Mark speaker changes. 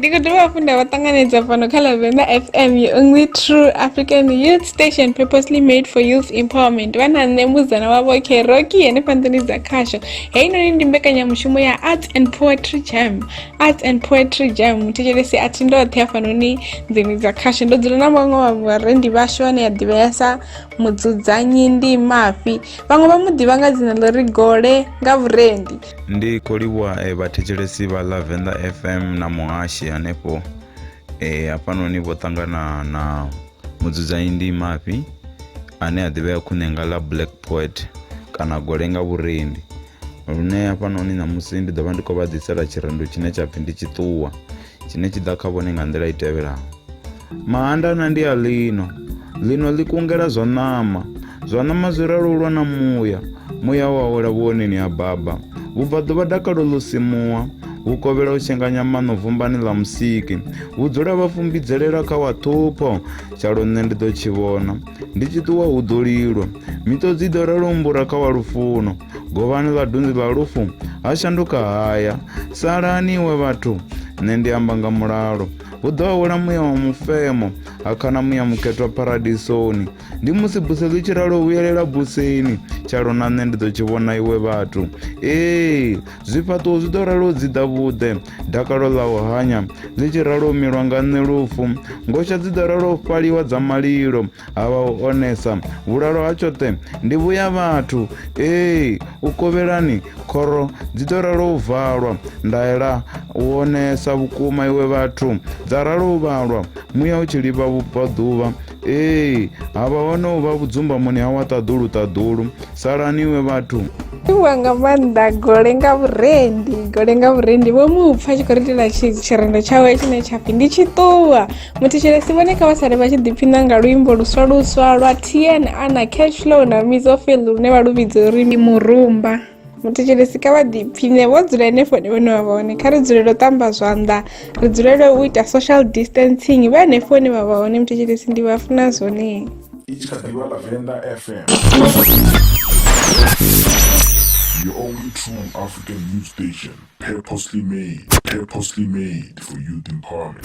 Speaker 1: ndi khou dovha hafhu nda vha ṱanganedza fhano kha lavenda fm you only true african youth station purposely made for youth empowerment vha na nṋe muzana wavho keroki henefha nḓuni dza khasho heinoni ndi mbekanyamushumo ya arts and poetry jam arts and poetry jam muthetshelesi a thi ndoṱhe hafhanoni nḓuni dza khasho ndo dzula na vhaṅwe wa vharendi vhashu ane ya ḓivhea sa mudzudzanyi ndi mafhi vhaṅwe vha mu ḓivha nga dzina ḽo ri gole nga vhurendi ndi khou livhuwa
Speaker 2: eh, vhathetshelesi vha ḽa venḓa fm na muhashi hanefho eh, hafhanoni vho ṱangana na mudzudzanyi ndi mafhi ane a ḓivhea khune nga ḽa black poet kana gole nga vhurendi lune hafhanoni ṋamusi ndi ḓo vha ndi khou vha ḓisela tshirendo tshine tsha pfhi ndi tshiṱuwa tshine tshi ḓa kha vhone nga nḓila i tevhelaho mahandana ndi a lino lino ḽi kungela zwa ṋama zwa ṋama zwi ralulwa na muya muya wa wela vhuoneni ha baba vhubva ḓuvha dakalo ḽo simuwa hu kovhela u tshenganya maṋo vumbani ḽa musiki hu dzula vha fumbidzelela kha wa ṱhupho tshalo nṋe ndi ḓo tshi vhona Ndi tshi ṱuwa hu ḓo lilwa, miṱodzi i ḓo ralo mbura kha wa lufuno. Govhani vhadunzi vha lufu, ha shanduka haya. Salani iwe vhathu, nṋe ndi amba nga mulalo. Hu ḓo awela muya wa mufemo, ha khana muya mukhethwa paradisoni. Ndi musi buse ḽi tshi ralo vhuyelela buseni, tshalo na nṋe ndi ḓo tshi vhona iwe vhathu. Ee, zwifhaṱuwo zwi ḓo ralo dziḓa vhuḓe, dakalo ḽa u hanya ḽi tshi ralo u milwa nga nṋe lufu ngosha dzi ḓo ralo u fhaliwa dza malilo ha vha u onesa vhulalo ha tshoṱhe ndi vhuya vhathu ee u kovhelani khoro dzi ḓo ralo u valwa ndaela u onesa vhukuma iwe vhathu dza ralo u vhalwa muya u tshi livha vhubvaḓuvha Ee, havha hone u vha vhudzumbamoni ha wa ṱaḓulu ṱaḓulu. Salani we vhathu. Iwa nga
Speaker 1: maanḓa gole nga vhurendi gole nga vhurendi vho mu pfa tshi khou ri itela tshirendo tshawe tshine tsha pfhi ndi tshi ṱuwa muthetshelesi vhone kha vha sale vha tshi ḓiphina nga luimbo luswa luswa lwa tn ana cashlow na mizofield lune vha lu vhidza uri murumba muthetshelesi kha vha ḓipfhine vho dzula henefho hone vhone vha vhone kha ri dzulele u ṱamba zwanḓa ri dzulele u ita social distancing vha henefho hone vha vha hone muthetshelesi ndi vha funa zwone i tshi kha ḓivha la
Speaker 3: venḓa fm Your only true African news station, purposely made, purposely made for youth empowerment.